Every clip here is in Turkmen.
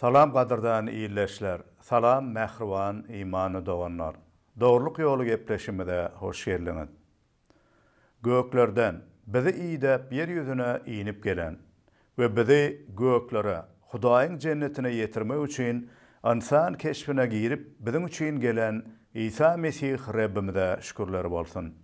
Salam gadyrdan ildeşler salam mähriban imanly doganlar dogrylyk ýoly gepleşimize hoş geldiňiz göklerden bizi idäp ýer ýüzüne inip gelen we bizi göklere hudaýyň jennetine ýetirmek üçin ynsan keşbine girip biziň üçin gelen isa mesih rebbimize şükürler bolsun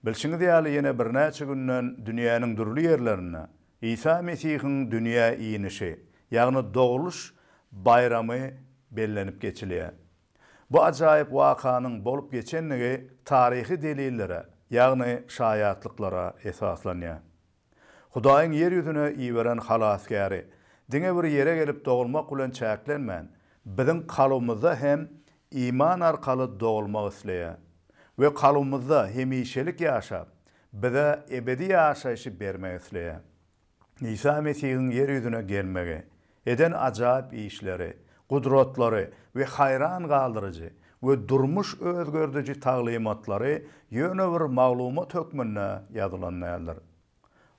bilşiňiz ýaly ýene birnäçe günden dünýäniň dürli ýerlerinde Isa Mesihiň dünýä inişi, ýagny dogluş baýramy bellenip geçilýär. Bu ajaýyp wakanyň bolup geçendigi taryhy delillere, ýagny şaýatlyklara esaslanýar. Hudaýyň ýer ýüzüne iberen Halasgäri diňe bir ýere gelip dogulmak bilen çäklenmän, biziň kalbymyzda hem iman arkaly dogulmak isleýär we kalbymyzda hemişelik ýaşap, bize ebedi ýaşaýşy bermek isleýär. Isa Mesihiň ýer ýüzüne gelmegi, eden ajaýyp işleri, gudratlary we haýran galdyryjy we durmuş özgerdiji taglymatlary ýöne bir maglumat hökmünde ýazylan däldir.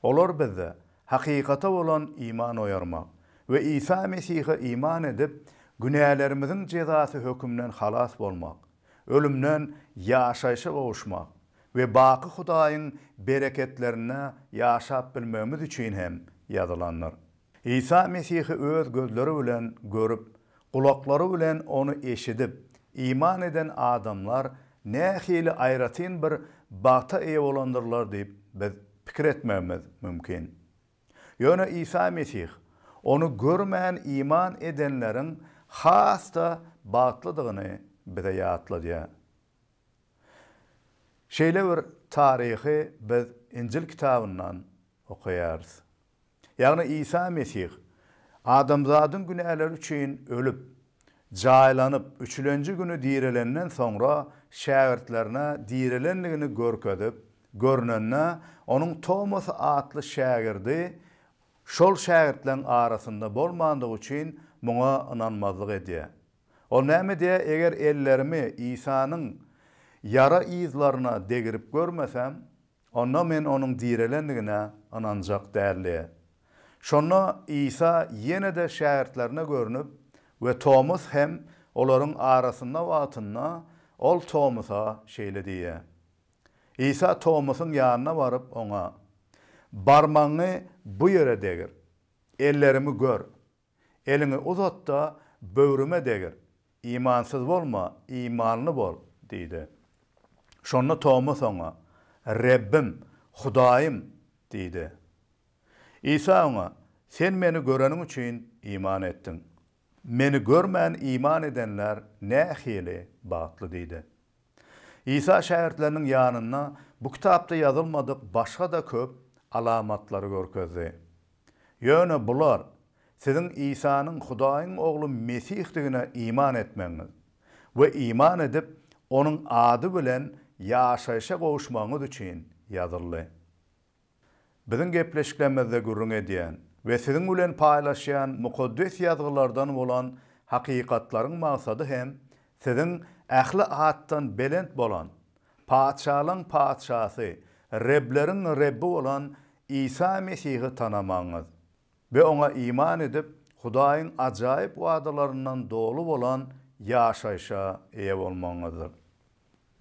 Olar bizde hakykata bolan iman oýarmak we Isa Mesihe iman edip, günälerimiziň jezasy hökümden halas bolmak, ölümden ýaşaýşa gowuşmak we baky Hudaýyň bereketlerinde ýaşap bilmegimiz üçin hem ýazylandyr. Isa Mesihi öz gözleri bilen görüp, gulaklary bilen Ony eşidip, iman eden adamlar nähili aýratyn bir bagta eýe bolandyrlar diýip biz pikir etmegimiz mümkin. Ýöne Isa Mesih Ony görmän iman edenleriň has-da bagtlydygyny bize ýatladýar. Şeýle bir taryhy biz Injil kitabyndan okaýarys. Ýagny Isa Mesih adamzadyň günäleri üçin ölüp, jaýlanyp, üçülenji güni direlenden soňra şägirtlerine direlendigini görkezip, Görnende, onuň Tomas atly şägirdi şol şägirtleriň arasynda bolmandygy üçin muňa ynanmazlyk edýär. Ol näme diýýär, Eger ellerimi Isanyň ýara yzlaryna degirip görmesem, onda men onuň direlendigine ynanjak däl diýýär. Şonda Isa ýene-de şägirtlerine görnüp we Tomas hem olaryň arasynda wagtynda, ol Tomasa şeýle diýýär, Isa Tomasyň ýanyna baryp, oňa, Barmagyňy bu ýere degir, ellerimi gör, eliňi uzat-da, böwrüme degir, imansyz bolma, imanly bol diýdi. Şonda Tomas oňa, Rebbim, Hudaýym! diýdi. Isa oňa, Sen Meni göreniň üçin iman etdiň. Meni görmän iman edenler nähili bagtly diýdi. Isa şägirtleriniň ýanynda bu kitapda ýazylmadyk başga-da köp alamatlary görkezdi. Ýöne bular, siziň Isanyň Hudaýyň Ogly Mesihdigine iman etmegiňiz we iman edip, Onuň ady bilen ýaşaýşa gowuşmagyňyz üçin ýazyldy. Biziň gepleşiklerimizde gürrüň edýän we siziň bilen paýlaşýan Mukaddes Ýazgylardan bolan hakykatlaryň maksady hem siziň ähli atdan belent bolan, patyşalaryň Patyşasy, Rebleriň Rebbi bolan Isa Mesihi tanamagyňyz we Oňa iman edip, Hudaýyň ajaýyp wadalaryndan doly bolan ýaşaýşa eýe bolmagyňyzdyr.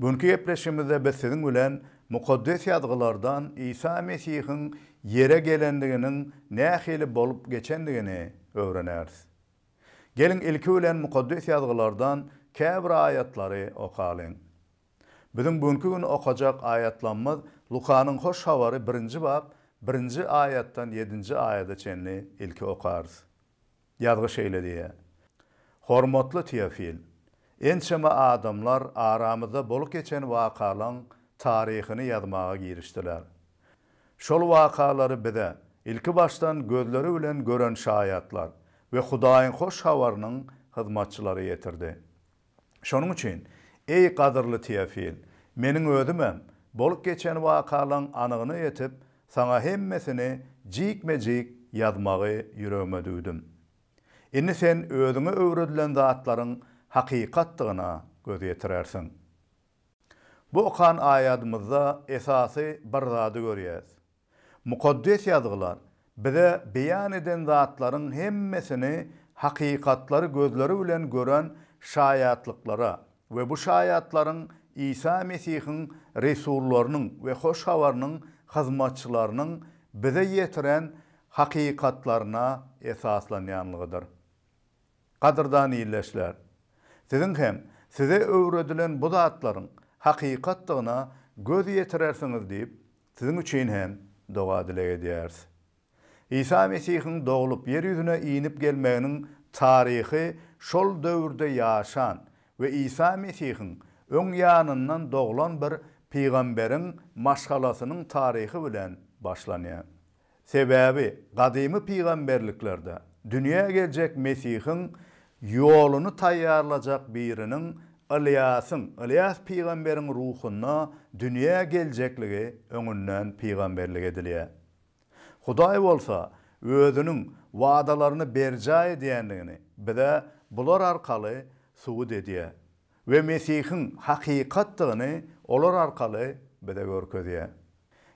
Günki gepleşigimizde biz siziň bilen Mukaddes Ýazgylardan Isa Mesihiň ýere gelendiginiň nähili bolup geçendigini öwreneris. Geliň ilki bilen Mukaddes Ýazgylardan käbir aýatlary okalyň. Biziň günki gün okajak aýatlamyz Lukanyň Hoş Habary birinji bap birinji aýatdan ýedinji aýada çenli ilki okarys. Ýazgy şeýle diýýär, Hormatly Teofil, ençeme adamlar aramyzda bolup geçen wakalaň taryhyny ýazmaga girişdiler. Şol wakalary bize, ilki başdan gözleri bilen gören şaýatlar we Hudaýyň hoş habarynyň hyzmatçylary ýetirdi. Şonuň üçin, eý, gadyrly Teofil, meniň özümem bolup geçen wakalaryň anygyna ýetip, saňa hemmesini jikme-jik ýazmagy ýüregime düwdüm. Indi sen özüňe öwredilen zatlaryň hakykatdygyna göz ýetirersiň. Bu okan aýadymyzda esasy bir zady görýäs. Mukaddes Ýazgylar bize beýan eden zatlaryň hemmesini hakykatlary gözleri bilen gören şaýatlyklara we bu şaýatlaryň Isa Mesihiň resullarynyň we Hoş Habarynyň hyzmatçylarynyň bize ýetiren hakykatlaryna esaslanýanlygydyr. Gadyrdan ildeşler! Siziň hem size öwredilen bu zatlaryň hakykatdygyna göz ýetirersiňiz diýip Siziň üçin hem doga-dileg edýäris. Isa Mesihiň doglup, ýer ýüzüne inip gelmeginiň taryhy şol döwürde ýaşan we Isa Mesihiň öň ýanyndan doglan bir pygamberiň maşgalasynyň taryhy bilen başlanýar. Sebäbi gadymy pygamberliklerde dünýä geljek Mesihiň ýoluny taýýarlajak biriniň Ylýasyň, Ylýas pygamberiň ruhunda dünýä geljekligi öňünden pygamberlik edilýär. Hudaý bolsa Özüniň wadalaryny berjaý edýändigini bize bular arkaly subut edýär. we Mesihiň hakykatdygyny olar arkaly bize görkezýär.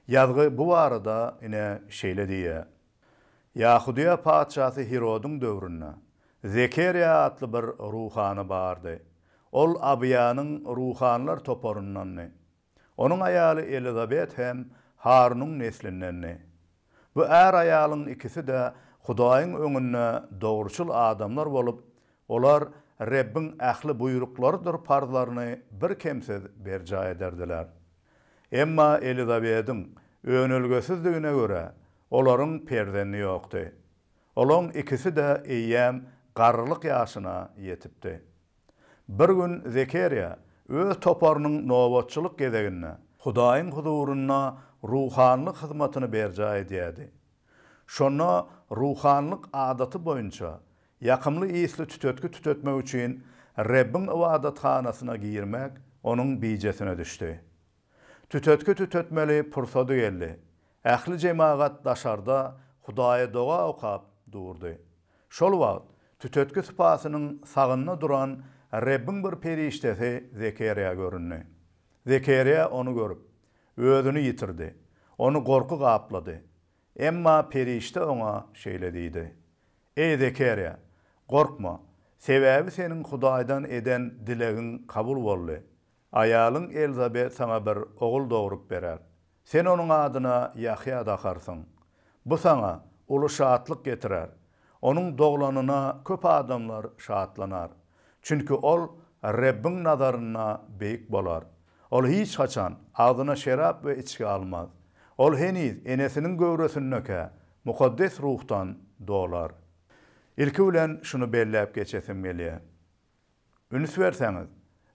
Ýazgy bu barada ine şeýle diýýär, Ýahudyýa patyşasy Hirodyň döwründe Zekerýa atly bir ruhany bardy. Ol Abyýanyň ruhanylar toparyndandy. Onuň aýaly Elizabet hem Harunyň neslindendi. Bu är-aýalyň ikisi-de Hudaýyň öňünde dogruçyl adamlar bolup, olar Rebbiň ähli buýruklarydyr parzlaryny birkemsiz berjaý ederdiler. Emma Elizabediň önelgesizdigine görä, olaryň perzendi ýokdy. Olaň ikisi-de eýýäm garrylyk ýaşyna ýetipdi. Bir gün Zekerýa öz toparynyň nobatçylyk gezeginde Hudaýyň huzurynda ruhanylyk hyzmatyny berjaý edýärdi. Şonda ruhanylyk adaty boýunça ýakymly ysly tütetgi tütetmek üçin Rebbiň ybadathanasyna girmek onuň bijesine düşdi. Tütetgi tütetmeli pursady geldi. Ähli jemagat daşarda Hudaýa doga okap durdy. Şol wagt, tütetgi sypasynyň sagynda duran Rebbiň bir perişdesi Zekerýa göründi. Zekerýa ony görüp, özüni ýitirdi. Ony gorky gaplady. Emma perişde oňa şeýle diýdi, Eý, Zekerýa, gorkma, sebäbi seniň Hudaýdan eden dilegiň kabul boldy. Aýalyň Elzabet saňa bir ogul dogrup berer. Sen onuň adyna Ýahýa dakarsyň. Bu saňa uly şatlyk getirer. Onuň doglanyna köp adamlar şatlanar. Çünki ol Rebbiň nazarynda beýik bolar. Ol hiç haçan agzyna şerap we içgi almaz. Ol heniz enesiniň göwresindekä Mukaddes Ruhdan dolar. Ilki bilen şuny belläp geçesim gelýär. Üns berseňiz,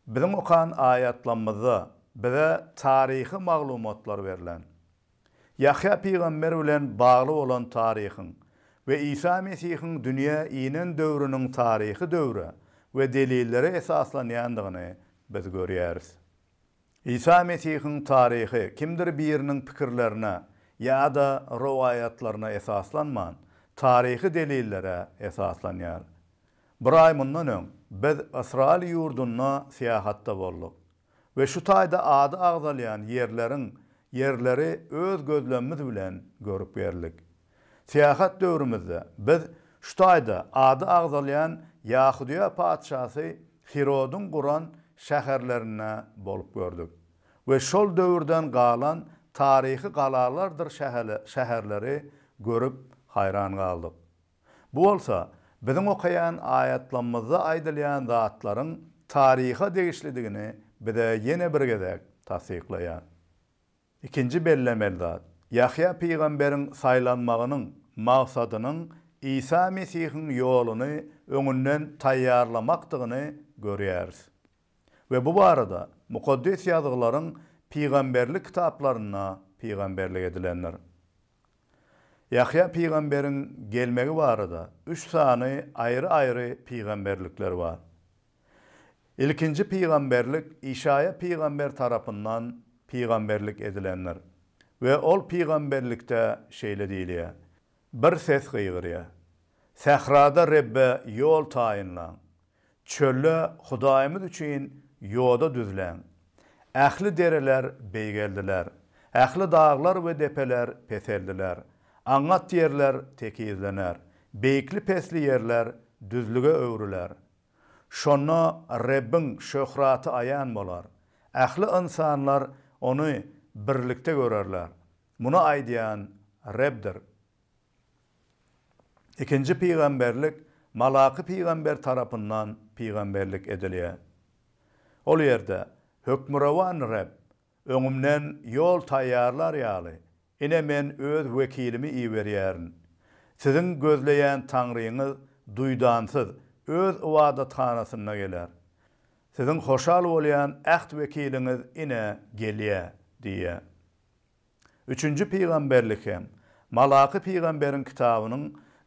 biziň okan aýatlamyzda bize taryhy maglumatlar berlen. Ýahýa pygamber bilen bagly bolan taryhyň we Isa Mesihiň dünýä inen döwrüniň taryhy döwre we delillere esaslanýandygyny biz görýäris. Isa Mesihiň taryhy kimdir biriniň pikirlerine ýa-da rowaýatlaryna esaslanman, taryhy delillere esaslanýar. Bir aý mundan öň, biz Ysraýyl ýurdunda syýahatda bolduk we şu taýda ady agzalýan ýerleriň ýerleri öz gözlemimiz bilen görüp geldik. Syýahat döwrümizde biz şu taýda ady agzalýan Ýahudyýa patyşasy Hirodyň guran şäherlerinde bolup gördük we şol döwürden galan taryhy galalardyr şäherleri görüp haýran galdyk. Bu bolsa biziň okaýan aýatlamymyzda aýdylýan zatlaryň taryha degişlidigini bize ýene bir gezek tassyklaýar. Ikinji bellemeli zat, Ýahýa pygamberiň saýlanmagynyň maksadynyň Isa Mesihiň ýoluny öňünden taýýarlamakdygyny görýäris. We bu barada Mukaddes Ýazgylaryň pygamberlik kitaplarynda pygamberlik edilendir. Ýahýa pygamberiň gelmegi barada üç sany aýry-aýry pygamberlikler bar. Ilkinji pygamberlik Işaýa pygamber tarapyndan pygamberlik edilendir we ol pygamberlikde şeýle diýilýär, Bir ses gygyrýar, Sährada Rebbe ýol taýynlaň, çölde Hudaýymyz üçin ýoda düzläň. Ähli dereler beýgeldiler, ähli daglar we depeler peseldiler, aňňat ýerler tekizlener, beýikli-pesli ýerler düzlüge öwrüler, Şonda Rebbiň şöhraty aýan bolar. Ähli ynsanlar Ony birlikde görerler. Muny aýdýan Rebdir. Ikinji pygamberlik Malaky pygamber tarapyndan pygamberlik edilýär. Ol ýerde Hökmürowan Reb Öňümden ýol taýýarlar ýaly, ine men öz wekilimi iberýärin. Siziň gözleýän Taňryňyz duýdansyz Öz ybadathanasynda geler. Siziň hoşal bolýan äht wekiliňiz ine gelýär diýýär. Üçünji pygamberlik hem, Malaky pygamberiň kitabynyň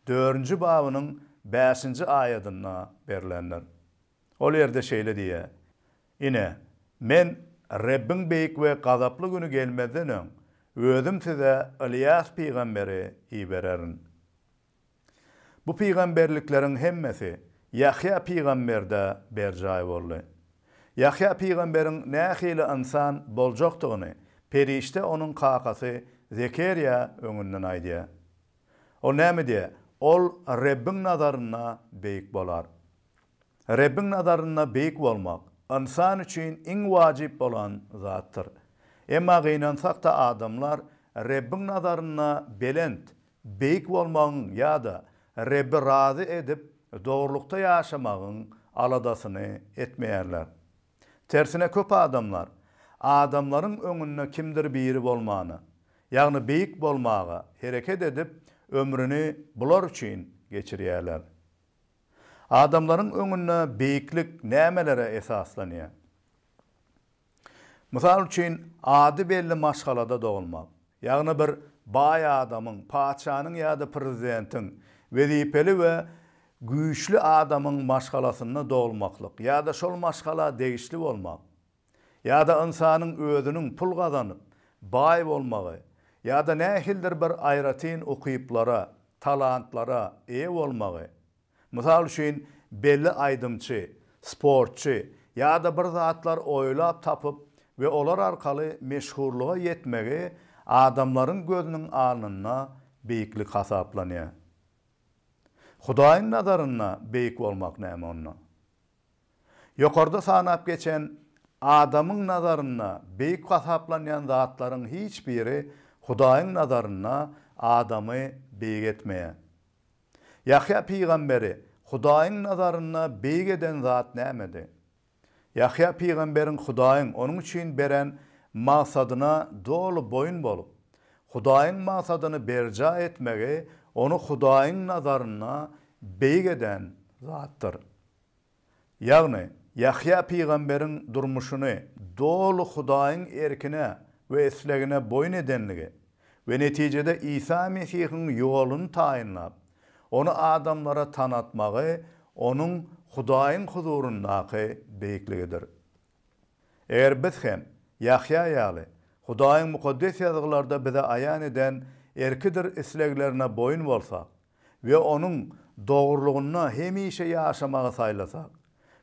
dördünji babynyň bäşinji aýadynda berilendir. Ol ýerde şeýle diýýär, Ine, Men Rebbiň beýik we gazaply güni gelmezden öň, Özüm size Ylýas pygamberi ibererin. Bu pygamberlikleriň hemmesi Ýahýa pygamberde berjaý boldy. Ýahýa pygamberiň nähili ynsan boljakdygyny perişde onuň kakasy Zekerýa öňünden aýdýar. Ol näme diýýär? Ol Rebbiň nazarynda beýik bolar. Rebbiň nazarynda beýik bolmak ynsan üçin iň wajyp bolan zatdyr. Emma gynansak-da adamlar Rebbiň nazarynda belent, beýik bolmagyň ýa-da Rebbi razy edip dogrulykda ýaşamagyň aladasyny etmeýärler. Tersine köp adamlar adamlaryň öňünde kimdir biri bolmana, ýagny beýik bolmaga hereket edip ömrüni bular üçin geçirýärler. Adamlaryň öňünde beýiklik nämelere esaslanýar? Mysal üçin, ady belli maşgalada dogulmak, ýagny bir baý adamyň, patyşanyň ýa-da prezidentiň, wezipeli we güýçli adamyň maşgalasynda dogulmaklyk ýa-da şol maşgala degişli bolmak. ýa-da ynsanyň özüniň pul gazanyp, baý bolmagy ýa-da nähilidir bir aýratyn ukyplara, talantlara eýe bolmagy, mysal üçin, belli aýdymçy, sportçy ýa-da bir zatlar oýlap tapyp we olar arkaly meşhurlyga ýetmegi adamlaryň gözüniň alnynda beýiklik hasaplanýar. Hudaýyň nazarynda beýik bolmak näme onda? Ýokarda sanap geçen adamyň nazarynda beýik hasaplanýan zatlaryň hiç biri Hudaýyň nazarynda adamy beýik etmeýär. Ýahýa pygamberi Hudaýyň nazarynda beýik eden zat nämedi? Ýahýa pygamberiň Hudaýyň onuň üçin beren magsadyna doly boýun bolup, Hudaýyň magsadyny berjaý etmegi ony Hudaýyň nazarynda beýik eden zatdyr. Ýagny, Ýahýa pygamberiň durmuşyny doly Hudaýyň erkine we islegine boýun edendigi we netijede Isa Mesihiň ýoluny taýynlap, Ony adamlara tanatmagy onuň Hudaýyň huzuryndaky beýikligidir. Eger biz hem, Ýahýa ýaly, Hudaýyň Mukaddes Ýazgylarda bize aýan eden erkidir isleglerine boýun bolsak, we Onuň dogrulygynda hemişe ýaşamagy saýlasak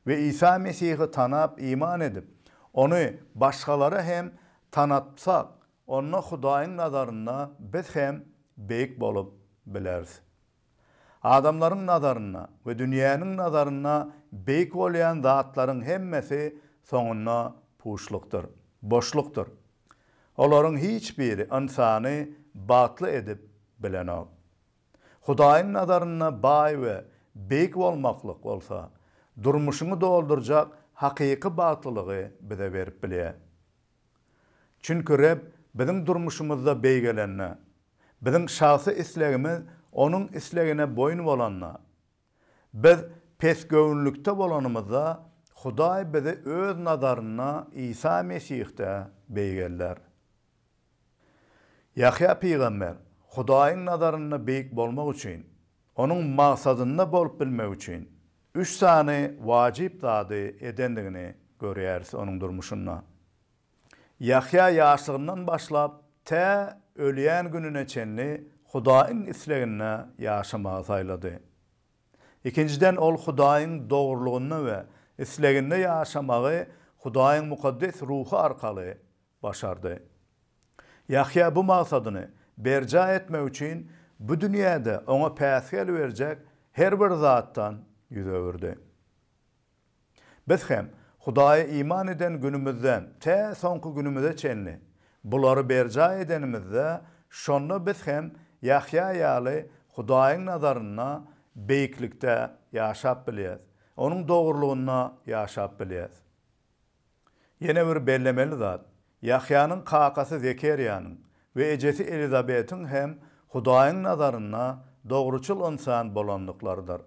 we Isa Mesihi tanap iman edip, Ony başgalara hem tanatsak, onda Hudaýyň nazarynda biz hem beýik bolup bileris. Adamlaryň nazarynda we dünýäniň nazarynda beýik bolýan zatlaryň hemmesi soňunda puşlukdyr, boşlukdyr. Olaryň hiç biri ynsany bagtly edip bilenok. Hudaýyň nazarynda baý we beýik bolmaklyk bolsa, durmuşyňy doldurjak hakyky bagtlylygy bize berip bilýär. Çünki Reb biziň durmuşymyzda beýgelende, biziň şahsy islegimiz Onuň islegine boýun bolanda, Biz pesgöwünlikde bolanymyzda, Hudaý bizi Öz nazarynda Isa Mesihde beýik ellär. Ýahýa pygamber, Hudaýyň nazarynda beýik bolmak üçin, Onuň magsadynda bolup bilmek üçin, üç sany wajyp zady edendigini görýäris onuň durmuşynda. Ýahýa ýaşlygyndan başlap, tä ölýän gününe çenli Hudaýyň isleginde ýaşamagy saýlady. Ikinjiden, ol Hudaýyň dogrulygynda we isleginde ýaşamagy Hudaýyň mukaddes ruhy arkaly başardy. Ýahýa bu magsadyny berjaý etmek üçin bu dünýäde oňa päsgel berjek her bir zatdan ýüz öwürdi. Biz hem Hudaýa iman eden günümizden tä soňky günümize çenli bulary berjaý edenimizde, şonda biz hem Ýahýa ýaly Hudaýyň nazarynda beýiklikde ýaşap bilýäris, Onuň dogrulygynda ýaşap bilýäris. Ýene bir bellemeli zat, Ýahýanyň kakasy Zekerýanyň we ejesi Elizabetiň hem Hudaýyň nazarynda dogruçyl ynsan bolandyklarydyr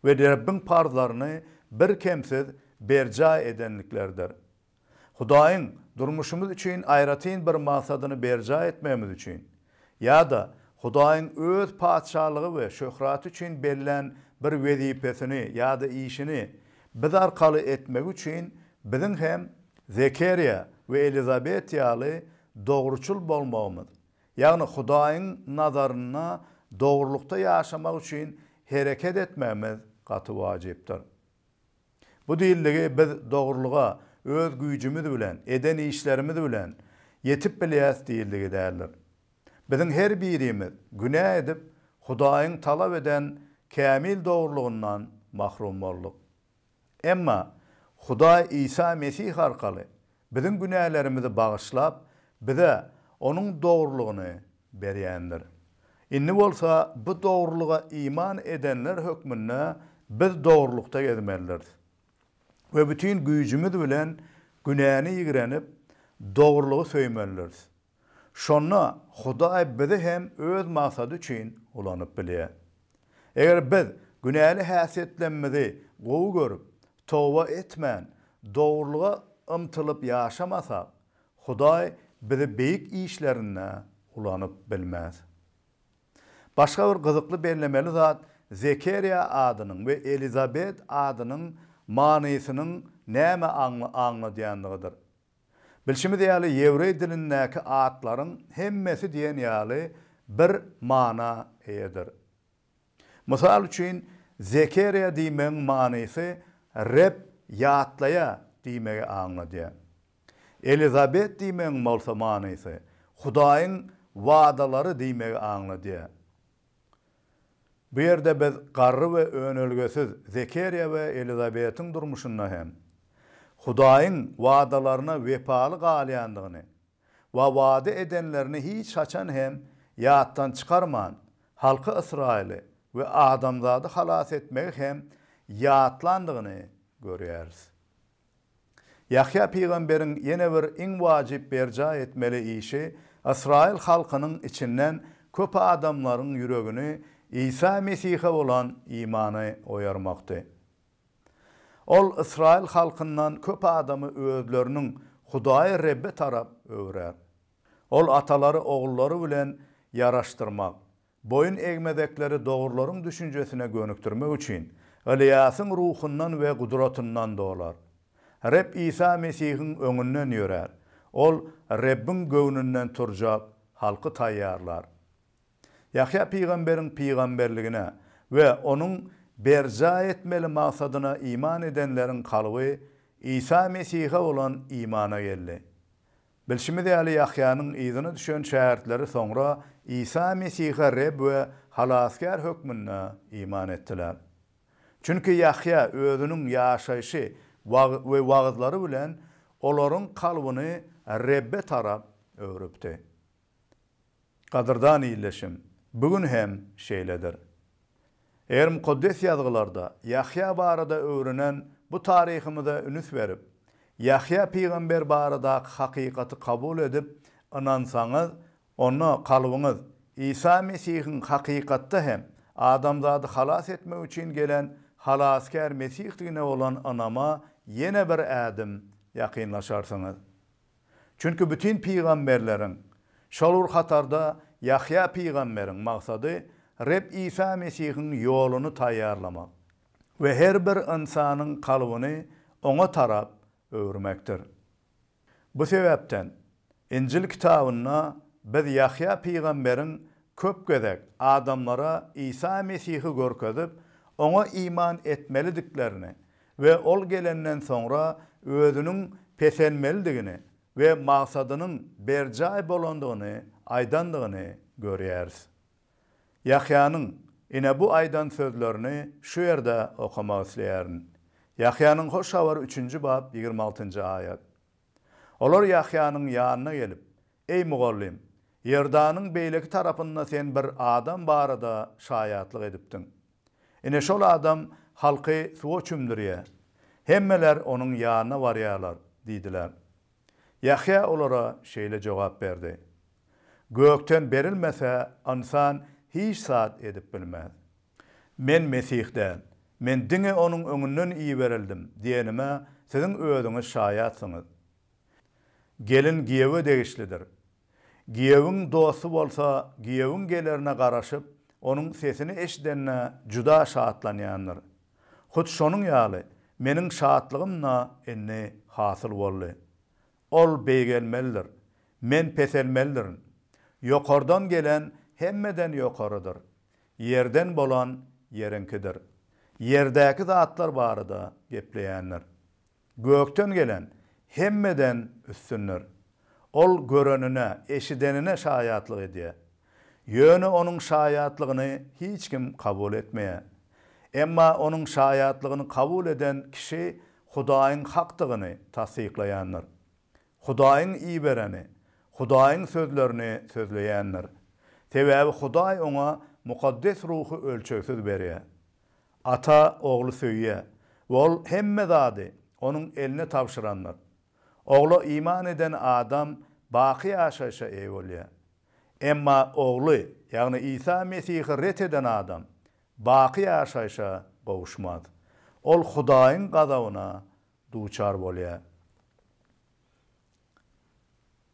we Rebbiň parzlaryny birkemsiz berjaý edendiklerdir. Hudaýyň durmuşymyz üçin aýratyn bir maksadyny berjaý etmegimiz üçin, Ýa-da Hudaýyň Öz Patyşalygy we şöhraty üçin bellän bir wezipesini ýa-da işini biz arkaly etmegi üçin biziň hem Zekerýa we Elizabet ýaly dogruçyl bolmagymyz, ýagny Hudaýyň nazarynda dogrulykda ýaşamak üçin hereket etmegimiz gaty wajypdyr. Bu dildigi biz dogrulyga öz güýjümiz bilen, eden işlerimiz bilen ýetip bilýäs dildigi däldir. Biziň her birimiz günä edip, Hudaýyň talap eden kämil dogrulygyndan mahrum bolduk. Emma Hudaý Isa Mesih arkaly Biziň günälerimizi bagyşlap, bize Onuň dogrulygyny berýändir. Indi bolsa bu dogrulyga iman edenler hökmünde biz dogrulykda gezmelidiris we bütin güýjümiz bilen günäni ýigrenip, dogrulygy söýmelidiris. Şonda Hudaý bizi hem öz maksady üçin ulanyp bilýär. Eger biz günäli häsiýetlemimizi gowy görüp, toba etmän, dogrulyga ymtylyp ýaşamasak, Hudaý bizi beýik işlerinde ulanyp bilmez. Başga bir gyzykly bellemeli zat Zekerýa adynyň we Elizabet adynyň manysynyň näme aňladýandygydyr. Bilşimiz ýaly, ýewreý dilindäki atlaryň hemmesi diýen ýaly bir mana eýedir. Mysal üçin, Zekeriýa diýmegiň manysy Reb ýatlaýar diýmegi aňladýar. Elizabet diýmegiň bolsa manysy Hudaýyň wadalary diýmegi aňladýar. Bu ýerde biz garry we önelgesiz Zekeriýa we Elizabetiň durmuşynda hem Hudaýyň wadalaryna wepaly galýandygyny we wada edenlerini hiç haçan hem ýatdan çykarman, halky Ysraýyly we adamzady halas etmegi hem ýatlandygyny görýäris. Ýahýa pygamberiň ýene bir iň wajyp berjaý etmeli işi ysraýyl halkynyň içinden köp adamlaryň ýüregini Isa Mesihe bolan imana oýarmakdy. Ol ysraýyl halkyndan köp adamy özleriniň Hudaýy Rebbe tarap öwrer. Ol atalary ogullary bilen ýaraşdyrmak, Boýun egmezekleri dogrylaryň düşünjesine gönükdirmek üçin, Ylýasyň ruhundan we gudratyndan dolar. Reb Isa Mesihiň öňünden ýörär. Ol Rebbiň göwnünden turjak halky taýýarlar. Ýahýa pygamberiň pygamberligine we onuň berjaý etmeli maksadyna iman edenleriň kalby Isa Mesihe bolan imana geldi. Bilşimiz ýaly, Ýahýanyň yzyna düşen şägirtleri soňra Isa Mesihe Reb we Halasgär hökmünde iman etdiler. Çünki Ýahýa özüniň ýaşaýşy we wagyzlary bilen olaryň kalbyny Rebbe tarap öwrüpdi. Gadyrdan ildeşim, bu gün hem şeýledir. Eger Mukaddes Ýazgylarda Ýahýa barada öwrenen bu taryhymyza ünüs berip, Ýahýa pygamber baradaky hakykaty kabul edip, ynansaňyz, onda kalbyňyz Isa Mesihiň hakykatda hem adamzady halas etmek üçin gelen Halasgär Mesihdigine bolan ynama ýene bir ädim ýakynlaşarsyňyz. Çünki bütin pygamberleriň, şol bir hatarda Ýahýa pygamberiň maksady Reb Isa Mesihiň ýoluny taýýarlamak we her bir ynsanyň kalbyny Oňa tarap öwürmekdir. Bu sebäpden, Injil kitabynda biz Ýahýa pygamberiň köp gezek adamlara Isa Mesihi görkezip, Oňa iman etmelidiklerini we ol gelenden soňra özüniň peselmelidigini we magsadynyň berjaý bolandygyny aýdandygyny görýäris. Ýahýanyň ine bu aýdan sözlerini şu ýerde okamak isleýärin. Ýahýanyň Hoş Habar üçünji bap ýigrimi altynjy aýat. Olar Ýahýanyň ýanyna gelip, Eý, mugallym, Iordanyň beýleki tarapynda sen bir adam barada şaýatlyk edipdiň. Ine, şol adam halky suwa çümdürýär. Hemmeler onuň ýanyna barýarlar diýdiler. Ýahýa olara şeýle jogap berdi, Gökden berilmese, ynsan hiç zat edip bilmez. Men Mesih däl. Men diňe Onuň öňünden iberildim diýenime siziň özüňiz şaýatsyňyz. Gelin giýewe degişlidir. Giýewiň dosty bolsa giýewiň gelerine garaşyp, onuň sesini eşidende juda şatlanýandyr. Hut şonuň ýaly, meniň şatlygym-da indi hasyl boldy. Ol beýgelmelidir. Men peselmelidirin. Ýokardan gelen hemmeden ýokarydyr. Ýerden bolan ýeriňkidir. Ýerdäki zatlar barada gepleýändir. Gökden gelen hemmeden üstündir. Ol görenine, eşidenine şaýatlyk edýär. Ýöne onuň şaýatlygyny hiç kim kabul etmeýär. Emma onuň şaýatlygyny kabul eden kişi Hudaýyň hakdygyny tassyklaýandyr. Hudaýyň ibereni, Hudaýyň sözlerini sözleýändir. Sebäbi Hudaý oňa Mukaddes Ruhy ölçegsiz berýär. Ata Ogly söýýär we ol hemme zady Onuň eline tabşyrandyr. Ogla iman eden adam baky ýaşaýşa eýe bolýar. Emma Ogly, ýagny Isa Mesihi ret eden adam baky ýaşaýşa gowuşmaz. Ol Hudaýyň gazabyna duçar bolýar.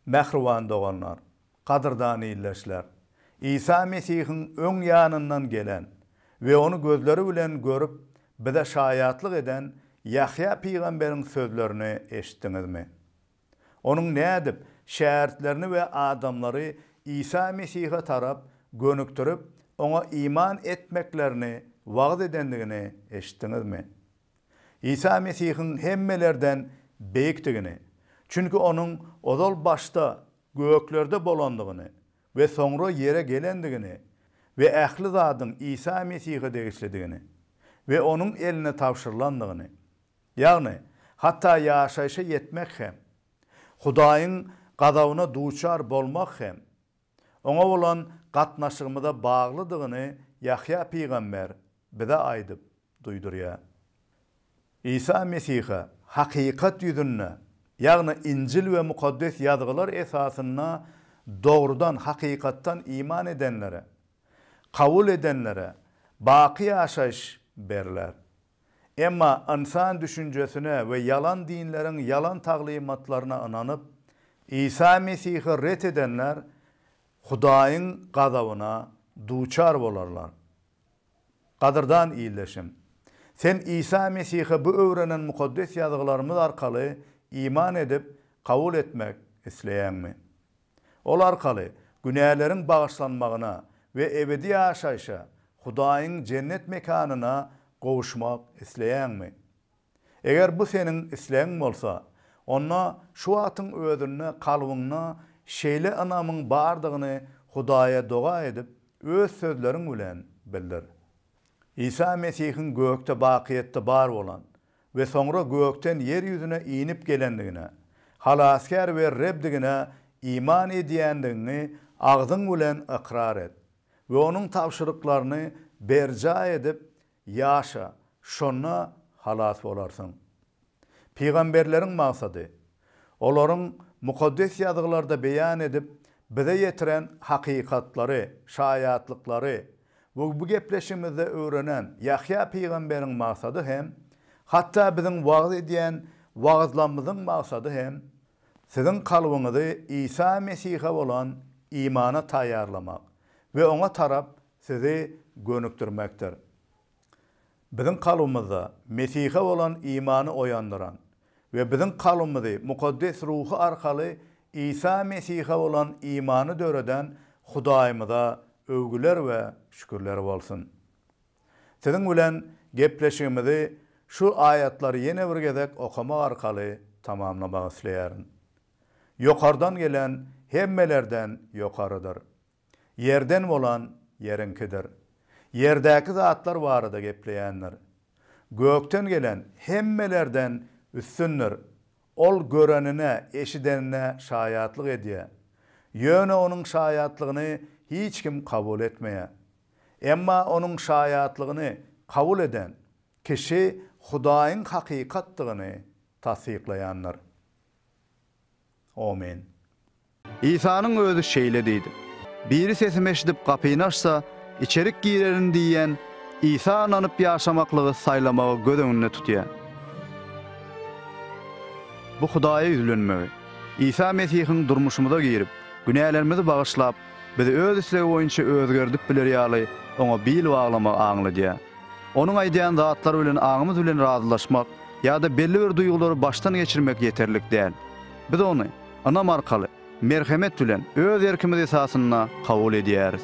Mähriban doganlar, gadyrdan ildeşler! Isa Mesihiň öň ýanyndan gelen we ony gözleri bilen görüp, bize şaýatlyk eden Ýahýa pygamberiň sözlerini eşitdiňizmi? Onuň nädip şägirtlerini we adamlary Isa Mesihe tarap gönükdirip, oňa iman etmeklerini wagyz edendigini eşitdiňizmi? Isa Mesihiň hemmelerden beýikdigini, çünki onuň ozal başda göklerde bolandygyny we soňra ýere gelendigini we ähli zadyň Isa Mesihe degişlidigini we onuň eline tabşyrylandygyny, ýagny hatda ýaşaýşa ýetmek hem, Hudaýyň gazabyna duçar bolmak hem, Oňa bolan gatnaşygymyza baglydygyny Ýahýa pygamber bize aýdyp duýdurýar. Isa Mesihe hakykat ýüzünde, ýagny Injil we Mukaddes Ýazgylar esasynda dogrudan, hakykatdan iman edenlere, kabul edenlere baky ýaşaýyş berler. Emma ynsan düşünjesine we ýalan dinleriň ýalan taglymatlaryna ynanyp, Isa Mesihi ret edenler Hudaýyň gazabyna duçar bolarlar. Gadyrdan ildeşim! Sen Isa Mesihe bu öwrenen Mukaddes Ýazgylarymyz arkaly iman edip, kabul etmek isleýäňmi? Ol arkaly günäleriň bagyşlanmagyna we ebedi ýaşaýşa, Hudaýyň jennet mekanyna gowuşmak isleýäňmi? Eger bu seniň islegiň bolsa, onda şu wagtyň özünde kalbyňda şeýle ynamyň bardygyny Hudaýa doga edip, öz sözleriň bilen bildir. Isa Mesihiň gökde bakyýetde bar bolan we soňra gökden ýer ýüzüne inip gelendigine, Halasgär we Rebdigine iman edýändigiňi agzyň bilen ykrar et we Onuň tabşyryklaryny berjaý edip ýaşa, şonda halas bolarsyň. Pygamberleriň maksady, olaryň Mukaddes Ýazgylarda beýan edip bize ýetiren hakykatlary, şaýatlyklary We bu gepleşigimizde öwrenen Ýahýa pygamberiň maksady hem, hatda biziň wagyz edýän wagyzlamyzyň maksady hem, siziň kalbyňyzy Isa Mesihe bolan imana taýýarlamak we oňa tarap sizi gönükdirmekdir. Biziň kalbymyzda Mesihe bolan imany oýandyran we biziň kalbymyzy Mukaddes Ruhy arkaly Isa Mesihe bolan imany döreden Hudaýymyza öwgüler we şükürler bolsun! Siziň bilen gepleşigimizi şu aýatlary ýene bir gezek okamak arkaly tamamlamak isleýärin. Ýokardan gelen hemmelerden ýokarydyr. Ýerden bolan Ýeriňkidir. Ýerdäki zatlar barada gepleýändir. Gökden gelen hemmelerden üstündir. Ol görenine, eşidenine şaýatlyk edýär. Ýöne onuň şaýatlygyny hiç kim kabul etmeýär. Emma onuň şaýatlygyny kabul eden kişi Hudaýyň hakykatdygyny tassyklaýandyr. Amen. Isanyň özi şeýle diýdi. Biri sesimi eşidip gapyny açsa, içerik girerin diýýän Isa ynanyp ýaşamaklygy saýlamagy göz öňünde tutýar. Bu Hudaýa ýüzlenmegi. Isa Mesihiň durmuşymyza girip, günälerimizi bagyşlap, bizi öz islegi boýunça özgerdip bileri ýaly oňa bil baglamagy aňladýar. Onuň aýdýan zatlary bilen aňymyz bilen razylaşmak ýa-da belli bir duýgulary başdan geçirmek ýeterlik däl. Biz ony ynam arkaly, merhemet bilen, öz erkimiz esasynda kabul edýäris.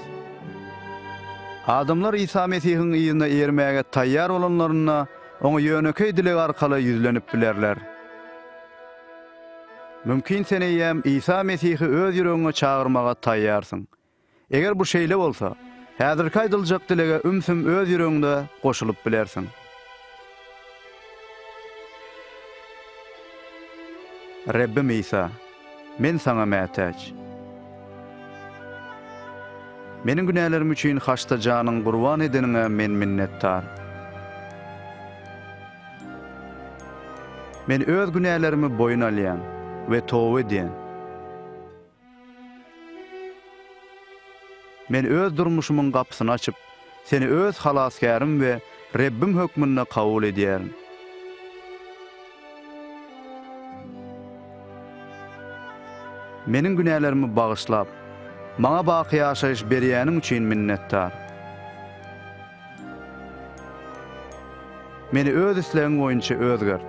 Adamlar Isa Mesihiň yzyna eýermäge taýýar bolanlarynda, Oňa ýönekeý dileg arkaly ýüzlenip bilerler. Mümkin sen eýýäm Isa Mesihi öz ýüregiňe çagyrmaga taýýarsyň. Eger bu şeýle bolsa, häzirki aýdyljak dilege ümsüm öz ýüregiňde goşulyp bilersiň. Rebbim Isa, men Saňa mätäç. Meniň günälerim üçin haçda janyň gurban edeniňe men minnetdar. Men öz günälerimi boýun alýan we toba edýän. Men öz durmuşymyň gapysyny açyp, Seni öz Halasgärim we Rebbim hökmünde kabul edýärin. Meniň günälerimi bagyşlap, maňa baky ýaşaýyş berýäniň üçin minnetdar. Meni öz islegiň boýunça özgert.